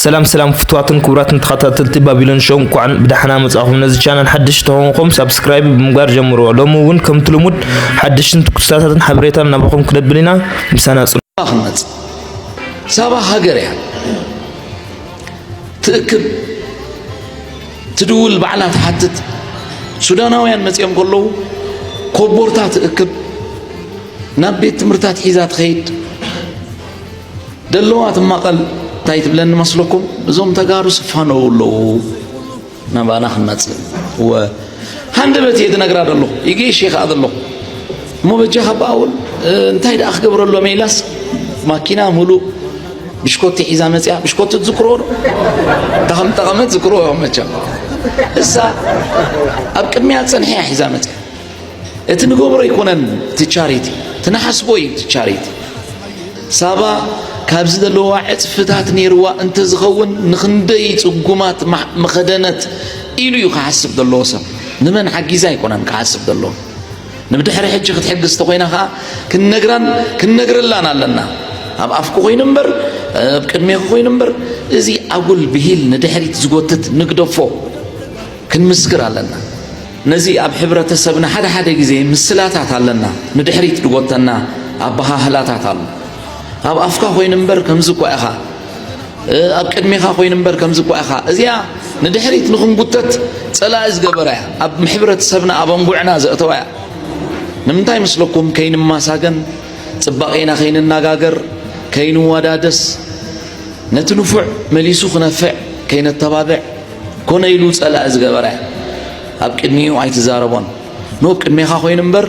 ሰላም ሰላም ፍትዋትን ክቡራትን ተኸታተልቲ ባቢሎን ሾው እንኳዕ ብዳሕና መጻኹም ነዚ ቻናል ሓድሽ ተኾንኩም ሳብስክራይብ ብምግባር ጀምርዎ ሎሚ እውን ከምቲ ልሙድ ሓድሽን ትኩስታታትን ሓበሬታን ናባኹም ክነብል ኢና ምሳና ጽኑ ክንመጽ ሳባ ሃገር እያ ትእክብ ትድውል ባዕላ ትሓትት ሱዳናውያን መጺኦም ከለዉ ኮቦርታ ትእክብ ናብ ቤት ትምህርታት ሒዛ ትኸይድ ደለዋ ትማቐል እንታይ ትብለኒ መስለኩም እዞም ተጋሩ ስፋነው ኣለዉ ናባና ክንመፅእ እወ ሃንደበት እየ ዝነግራ ዘለኹ ይጌሽ እየ ከዓ ዘለኹ እሞ በጃኻ በኣ እውን እንታይ ደኣ ክገብረሎም ኢላስ ማኪና ሙሉእ ብሽኮቲ ሒዛ መፅያ ብሽኮቲ ትዝክሮ ዶ እታ ከም ጠቐመት ዝክሮ እዮም መቸም እሳ ኣብ ቅድሚያ ፀንሐያ ሒዛ መፅያ እቲ ንገብሮ ኣይኮነን እቲ ቻሪቲ እቲ ንሓስቦ እዩ እቲ ቻሪቲ ሳባ ካብዚ ዘለዋ ዕፅፍታት ነይርዋ እንተዝኸውን ንክንደይ ፅጉማት መኸደነት ኢሉ እዩ ክሓስብ ዘለዎ ሰብ ንመን ሓጊዛ ኣይኮነን ክሓስብ ዘለዎ ንብድሕሪ ሕጂ ክትሕግዝ እንተኮይና ከዓ ክንነግራን ክንነግረላን ኣለና ኣብ ኣፍኩ ኮይኑ እምበር ኣብ ቅድሜኹ ኮይኑ እምበር እዚ ኣጉል ብሂል ንድሕሪት ዝጎትት ንግደፎ ክንምስክር ኣለና ነዚ ኣብ ሕብረተሰብና ሓደ ሓደ ግዜ ምስላታት ኣለና ንድሕሪት ድጎተና ኣበሃህላታት ኣሎ። ኣብ ኣፍካ ኮይኑ እምበር ከምዚ እኳ ኢኻ፣ ኣብ ቅድሜኻ ኮይኑ እምበር ከምዚ እኳ ኢኻ፣ እዚኣ ንድሕሪት ንኽንጉተት ጸላኢ ዝገበራ እያ፣ ኣብ ሕብረተሰብና ኣብ ኣንጉዕና ዘእተዋ እያ። ንምንታይ ምስለኩም ከይንማሳገን ጽባቄና ከይንናጋገር ከይንዋዳደስ ነቲ ንፉዕ መሊሱ ክነፍዕ ከይነተባብዕ ኮነ ኢሉ ጸላኢ ዝገበረ ኣብ ቅድሚኡ ኣይትዛረቦን ኖ ኣብ ቅድሜኻ ኮይኑ እምበር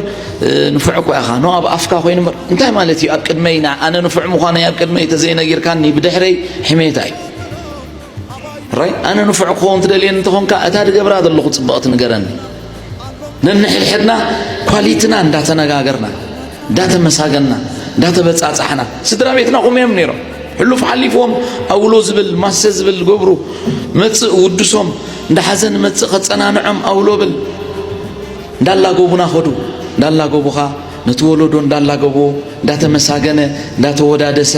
ንፉዕ እኳ ኢኻ ኖ ኣብ ኣፍካ ኮይኑ እምበር እንታይ ማለት እዩ ኣብ ቅድመይ ኣነ ንፉዕ ምዃነይ ኣብ ቅድመይ ተዘይነጊርካኒ ብድሕረይ ሕሜታ እዩ ራይ ኣነ ንፉዕ ክኸውን ትደልየኒ እንተኾንካ እታ ድገብራ ዘለኹ ጽብቕቲ ንገረኒ ነንሕድሕድና ኳሊትና እንዳተነጋገርና እንዳተመሳገና እንዳተበጻጻሕና ስድራ ቤትና ቁም እዮም ነይሮም ሕሉፍ ሓሊፎም ኣውሎ ዝብል ማሰ ዝብል ገብሩ መፅእ ውድሶም እንዳሓዘን መፅእ ከፀናንዖም ኣውሎ ብል እንዳላገቡና ኸዱ እንዳላገቡኻ ነቲ ወለዶ እንዳላገቡ እንዳተመሳገነ እንዳተወዳደሰ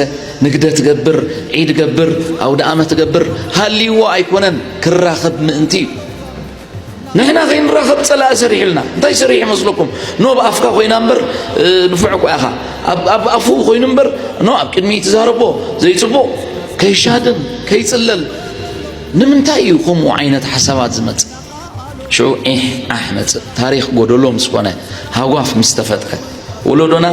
ንግደት ገብር ዒድ ገብር ኣውደ ኣመት ገብር ሃልይዎ ኣይኮነን ክራኸብ ምእንቲ እዩ ንሕና ከይንራኸብ ጸላኢ ሰሪሑልና እንታይ ሰሪሑ መስለኩም ኖ ኣብ ኣፍካ ኮይና እምበር ንፉዕ እኳ ኢኻ ኣብ ኣፉ ኮይኑ እምበር ኖ ኣብ ቅድሚ ትዛረቦ ዘይጽቡቕ ከይሻድን ከይጽለል ንምንታይ እዩ ከምኡ ዓይነት ሓሳባት ዝመጽእ ሽዑ ዒሕ ዓሕ መጽእ ታሪኽ ጎደሎ ምስ ኮነ ሃጓፍ ምስ ተፈጥረ ወለዶና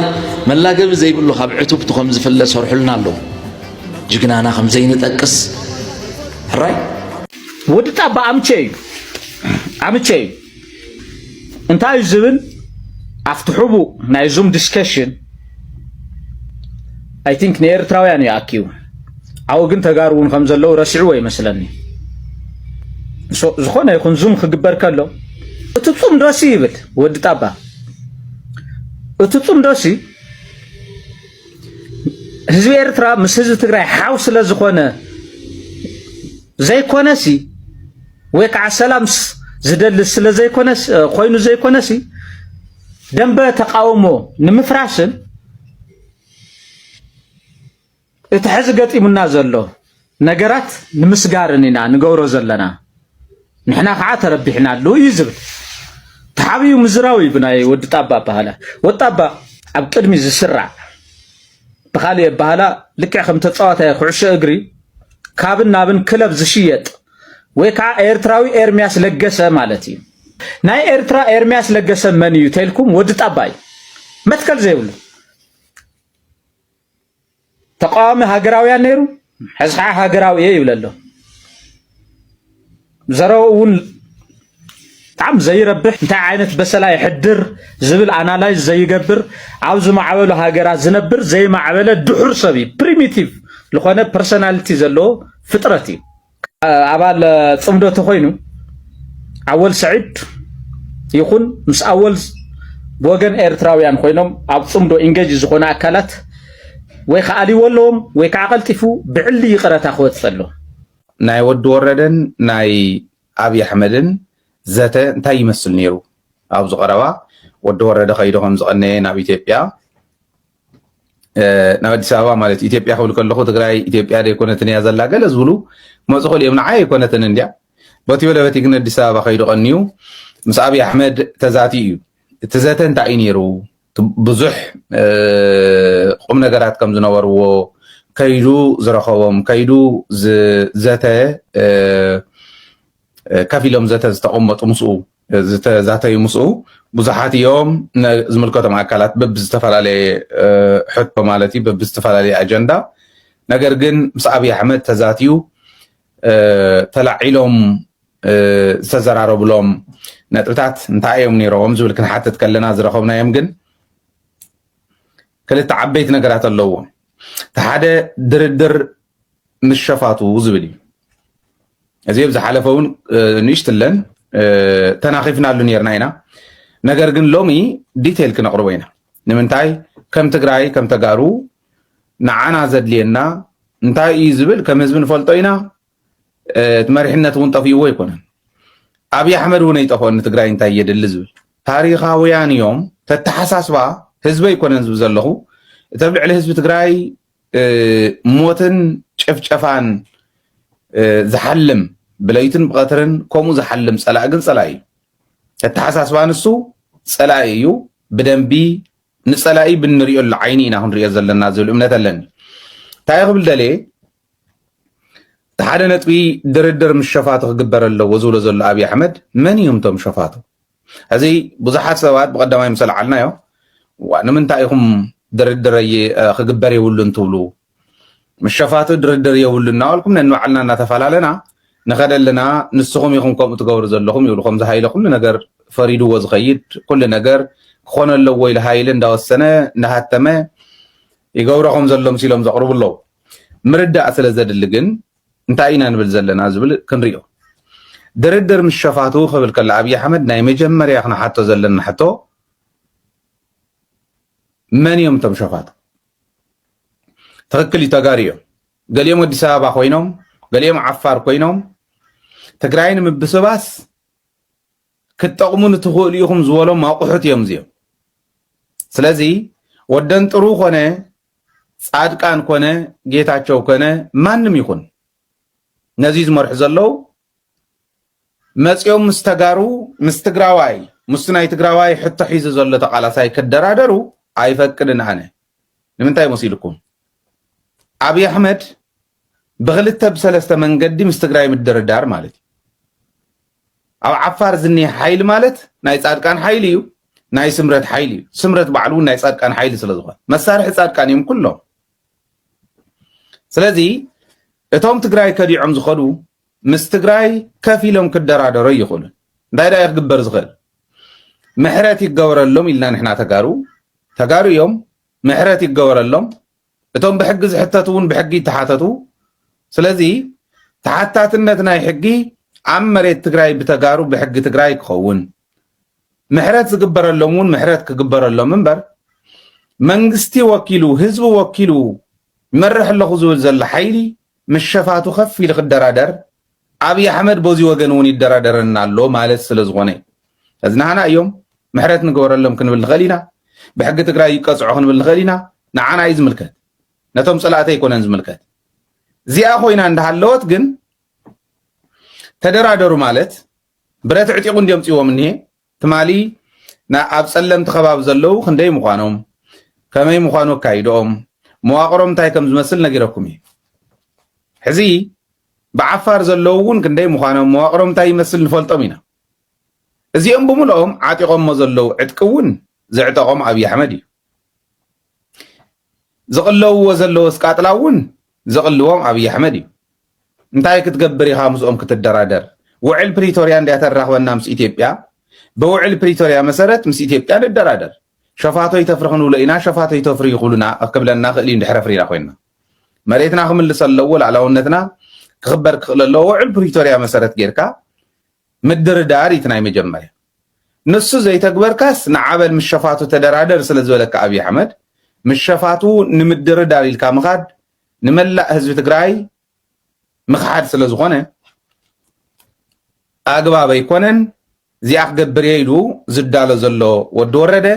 መላገቢ ዘይብሉ ካብ ዕቱብቱ ከም ዝፍለ ሰርሑልና ኣለዉ ጅግናና ከም ዘይንጠቅስ ሕራይ ወዲ ጣባ ኣምቸ እዩ ኣምቸ እዩ እንታይ እዩ ዝብል ኣብቲ ሕቡእ ናይ ዙም ዲስከሽን ኣይ ቲንክ ንኤርትራውያን እዩ ኣኪቡ ዓው ግን ተጋሩ እውን ከም ዘለዉ ረሲዕዎ ይመስለኒ ዝኾነ ይኹን ዙም ክግበር ከሎ እቲ ፁም ዶሲ ይብል ወዲ ጣባ እቲ ፁም ዶሲ ህዝቢ ኤርትራ ምስ ህዝቢ ትግራይ ሓው ስለ ዝኾነ ዘይኮነሲ ወይ ከዓ ሰላም ዝደሊ ስለ ዘይኮነስ ኮይኑ ዘይኮነሲ ደንበ ተቃውሞ ንምፍራስን እቲ ሕዚ ገጢሙና ዘሎ ነገራት ንምስጋርን ኢና ንገብሮ ዘለና ንሕና ከዓ ተረቢሕናሉ እዩ ዝብል ተሓቢኡ ምዝራው እዩ ብናይ ወዲ ጣባ ኣባሃላ ወዲ ጣባ ኣብ ቅድሚ ዝስራዕ ብካሊእ ኣባሃላ ልክዕ ከም ተፃዋታይ ኩዕሾ እግሪ ካብን ናብን ክለብ ዝሽየጥ ወይ ከዓ ኤርትራዊ ኤርሚያስ ለገሰ ማለት እዩ ናይ ኤርትራ ኤርሚያስ ለገሰ መን እዩ ተልኩም ወዲ ጣባ እዩ መትከል ዘይብሉ ተቃዋሚ ሃገራውያን ነይሩ ሕዚ ከዓ ሃገራዊ እየ ይብለ ኣሎ ዘረው እውን ብጣዕሚ ዘይረብሕ እንታይ ዓይነት በሰላ የሕድር ዝብል ኣናላይዝ ዘይገብር ኣብ ዝማዕበሉ ሃገራት ዝነብር ዘይማዕበለ ድሑር ሰብ እዩ ፕሪሚቲቭ ዝኾነ ፐርሶናሊቲ ዘለዎ ፍጥረት እዩ ኣባል ጽምዶ ተኾይኑ ኣወል ሰዒድ ይኹን ምስ ኣወል ብወገን ኤርትራውያን ኮይኖም ኣብ ጽምዶ ኢንጌጅ ዝኾነ ኣካላት ወይ ከዓ ኣልዎ ኣለዎም ወይ ከዓ ቀልጢፉ ብዕሊ ይቕረታ ክወፅእ ኣሎ። ናይ ወዲ ወረደን ናይ ኣብዪ ኣሕመድን ዘተ እንታይ ይመስል ነይሩ? ኣብዚ ቀረባ ወዲ ወረደ ከይዱ ከም ዝቐነየ ናብ ኢትዮጵያ ናብ ኣዲስ ኣበባ ማለት ኢትዮጵያ ክብል ከለኹ ትግራይ ኢትዮጵያ ዘይኮነትን እያ ዘላ ገለ ዝብሉ መፁ ክእል እዮም ንዓይ ኣይኮነትን እንድያ በቲ በለ በቲ ግን ኣዲስ ኣበባ ከይዱ ቀንዩ ምስ ኣብዪ ኣሕመድ ተዛቲ እዩ እቲ ዘተ እንታይ እዩ ነይሩ ብዙሕ ቁም ነገራት ከም ዝነበርዎ ከይዱ ዝረኸቦም ከይዱ ዘተ ከፍ ኢሎም ዘተ ዝተቐመጡ ምስኡ ዝተዛተዩ ምስኡ ብዙሓት እዮም ዝምልከቶም ኣካላት በብዝተፈላለየ ሕቶ ማለት እዩ በብዝተፈላለየ ኣጀንዳ ነገር ግን ምስ ኣብዪ ኣሕመድ ተዛትዩ ተላዒሎም ዝተዘራረብሎም ነጥብታት እንታይ እዮም ነይሮም ዝብል ክንሓትት ከለና ዝረኸብናዮም ግን ክልተ ዓበይቲ ነገራት ኣለዎም እቲ ሓደ ድርድር ምስ ሸፋቱ ዝብል እዩ እዚ ኣብ ዝሓለፈ እውን ንእሽትለን ተናኺፍናሉ ነርና ኢና ነገር ግን ሎሚ ዲቴይል ክነቕርቦ ኢና ንምንታይ ከም ትግራይ ከም ተጋሩ ንዓና ዘድልየና እንታይ እዩ ዝብል ከም ህዝቢ ንፈልጦ ኢና እቲ መሪሕነት እውን ጠፍእዎ ኣይኮነን ኣብዪ ኣሕመድ እውን ኣይጠፍኦን ንትግራይ እንታይ የድሊ ዝብል ታሪካውያን እዮም ተተሓሳስባ ህዝበ ኣይኮነን ዝብ ዘለኹ እተብ ልዕሊ ህዝቢ ትግራይ ሞትን ጭፍጨፋን ዝሓልም ብለይትን ብቐትርን ከምኡ ዝሓልም ፀላኢ ግን ፀላኢ እዩ። ተተሓሳስባ ንሱ ፀላኢ እዩ። ብደንቢ ንፀላኢ ብንሪኦሉ ዓይኒ ኢና ክንሪኦ ዘለና ዝብል እምነት ኣለኒ። እንታይ ክብል ደልየ እቲ ሓደ ነጥቢ ድርድር ምስ ሸፋቱ ክግበር ኣለዎ ዝብሎ ዘሎ ኣብዪ ኣሕመድ መን እዮም እቶም ሸፋቱ? ሕዚ ብዙሓት ሰባት ብቀዳማይ ምስ ኣልዓልናዮ ንምንታይ ኢኹም ድርድር ክግበር የብሉን ትብሉ ምስ ሸፋቱ ድርድር የብሉ እናበልኩም ነንባዕልና እናተፈላለና ንኸደ ኣለና ንስኹም ኢኹም ከምኡ ትገብሩ ዘለኹም ይብሉ ከምዚ ሃይለ ኩሉ ነገር ፈሪድዎ ዝኸይድ ኩሉ ነገር ክኾነ ኣለዎ ኢሉ ሃይለ እንዳወሰነ እንዳሃተመ ይገብሮ ከም ዘሎ ምሲሎም ዘቕርቡ ኣለዉ ምርዳእ ስለ ዘድሊ ግን እንታይ ኢና ንብል ዘለና ዝብል ክንሪኦ ድርድር ምስ ሸፋቱ ክብል ከሎ ኣብዪ ኣሕመድ ናይ መጀመርያ ክንሓቶ ዘለና ሕቶ መን እዮም እቶም ሸፋቱ? ትኽክል እዩ ተጋሩ እዮም። ገሊኦም ኣዲስ ኣበባ ኮይኖም ገሊኦም ዓፋር ኮይኖም ትግራይ ንምብስባስ ክትጠቕሙ ንትኽእሉ ኢኹም ዝበሎም ኣቑሑት እዮም እዚኦም። ስለዚ ወደንጥሩ ኮነ ፃድቃን ኮነ ጌታቸው ኮነ ማንም ይኹን ነዚ ዝመርሑ ዘለው መፂኦም ምስ ተጋሩ ምስ ትግራዋይ ምስ ናይ ትግራዋይ ሕቶ ሒዙ ዘሎ ተቃላሳይ ክደራደሩ ኣይፈቅድን ኣነ ንምንታይ መሲልኩም ኣብይ ኣሕመድ ብክልተ ብሰለስተ መንገዲ ምስ ትግራይ ምድርዳር ማለት እዩ። ኣብ ዓፋር ዝኒሀ ሓይሊ ማለት ናይ ፃድቃን ሓይሊ እዩ፣ ናይ ስምረት ሓይሊ እዩ። ስምረት ባዕሉ እውን ናይ ፃድቃን ሓይሊ ስለ ዝኾነ መሳርሒ ፃድቃን እዮም ኩሎም። ስለዚ እቶም ትግራይ ከዲዖም ዝኸዱ ምስ ትግራይ ከፍ ኢሎም ክደራደሩ ኣይኽእሉን። እንታይ ዳኣ ክግበር ዝኽእል ምሕረት ይገበረሎም ኢልና ንሕና ተጋሩ ተጋሩ እዮም ምሕረት ይገበረሎም እቶም ብሕጊ ዝሕተቱ እውን ብሕጊ ይተሓተቱ። ስለዚ ተሓታትነት ናይ ሕጊ ኣብ መሬት ትግራይ ብተጋሩ ብሕጊ ትግራይ ክኸውን ምሕረት ዝግበረሎም እውን ምሕረት ክግበረሎም እምበር መንግስቲ ወኪሉ ህዝቢ ወኪሉ ይመርሕ ኣለኹ ዝብል ዘሎ ሓይሊ ምስ ሸፋቱ ከፍ ኢሉ ክደራደር ኣብይ ኣሕመድ ቦዚ ወገን እውን ይደራደረና ኣሎ ማለት ስለዝኾነ እዩ እዝናሃና እዮም ምሕረት ንገበረሎም ክንብል ንኽእል ኢና ብሕጊ ትግራይ ይቀፅዑ ክንብል ንኽእል ኢና ንዓና እዩ ዝምልከት ነቶም ፀላእቲ ኣይኮነን ዝምልከት እዚኣ ኮይና እንዳሃለወት ግን ተደራደሩ ማለት ብረት ዕጢቑ እንዲዮም ፅዎም እኒሄ ትማሊ ን ኣብ ጸለምቲ ከባቢ ዘለዉ ክንደይ ምዃኖም፣ ከመይ ምዃኑ ኣካይድኦም፣ መዋቕሮም እንታይ ከም ዝመስል ነጊረኩም እየ። ሕዚ ብዓፋር ዘለዉ እውን ክንደይ ምዃኖም፣ መዋቕሮም እንታይ ይመስል ንፈልጦም ኢና። እዚኦም ብምልኦም ዓጢቖሞ ዘለዉ ዕጥቂ እውን ዘዕጠቖም ኣብይ ኣሕመድ እዩ። ዝቕለውዎ ዘለዎ ስቃጥላ እውን ዘቕልዎም ኣብይ ኣሕመድ እዩ። እንታይ ክትገብር ኢኻ ምስኦም ክትደራደር? ውዕል ፕሪቶርያ እንድያ ተራኽበና ምስ ኢትዮጵያ፣ ብውዕል ፕሪቶርያ መሰረት ምስ ኢትዮጵያ ንደራደር። ሸፋቶ ይተፍሪ ክንብሎ ኢና፣ ሸፋቶ ይተፍሪ ይኹሉና ክብለና ክእል እዩ እንድሕረ ፍሪና ኮይና። መሬትና ክምልስ ኣለዎ፣ ላዕላውነትና ክኽበር ክኽእል ኣለዎ። ውዕል ፕሪቶርያ መሰረት ጌርካ ምድርዳር ኢቲ ናይ መጀመርያ ንሱ ዘይተግበርካስ ንዓበል ምስ ሸፋቱ ተደራደር ስለ ዝበለካ ኣብይ ኣሕመድ ምስ ሸፋቱ ንምድርዳር ኢልካ ምኻድ ንመላእ ህዝቢ ትግራይ ምኽሓድ ስለ ዝኾነ ኣግባብ ኣይኮነን እዚኣ ክገብር እየ ኢሉ ዝዳሎ ዘሎ ወዲ ወረደ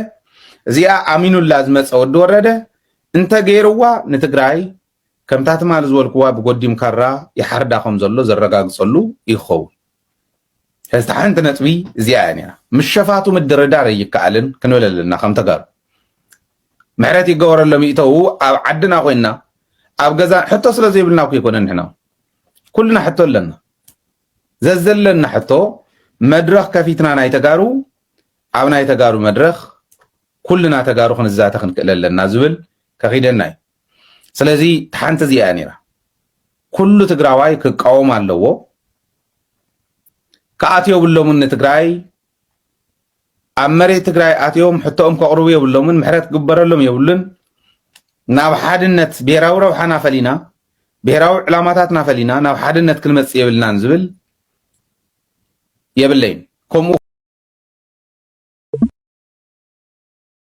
እዚኣ ኣሚኑላ ዝመፀ ወዲ ወረደ እንተገይርዋ ንትግራይ ከምታ ትማል ዝበልክዋ ብጎዲም ካራ ይሓርዳ ከም ዘሎ ዘረጋግጸሉ ይኸውን። ስለዚ እታ ሓንቲ ነጥቢ እዚኣ እያ ነይራ። ምስ ሸፋቱ ምድርዳር ኣይከኣልን ክንብል ኣለና ከም ተጋሩ። ምሕረት ይገበረሎም ይእተዉ ኣብ ዓድና ኮይንና ኣብ ገዛ ሕቶ ስለ ዘይብልና እኮ ኣይኮነን ንሕና ኩልና ሕቶ ኣለና። ዘዘለና ሕቶ መድረኽ ከፊትና ናይ ተጋሩ ኣብ ናይ ተጋሩ መድረኽ ኩልና ተጋሩ ክንዛተ ክንክእል ኣለና ዝብል ከኺደና እዩ። ስለዚ ሓንቲ እዚኣ እያ ነይራ ኩሉ ትግራዋይ ክቃወም ኣለዎ ክኣትዮ የብሎምን ንትግራይ ኣብ መሬት ትግራይ ኣትዮም ሕቶኦም ከቕርቡ የብሎምን ምሕረት ክግበረሎም የብሉን ናብ ሓድነት ብሄራዊ ረብሓና ፈሊና ብሄራዊ ዕላማታትና ፈሊና ናብ ሓድነት ክንመፅእ የብልናን ዝብል የብለይን ከምኡ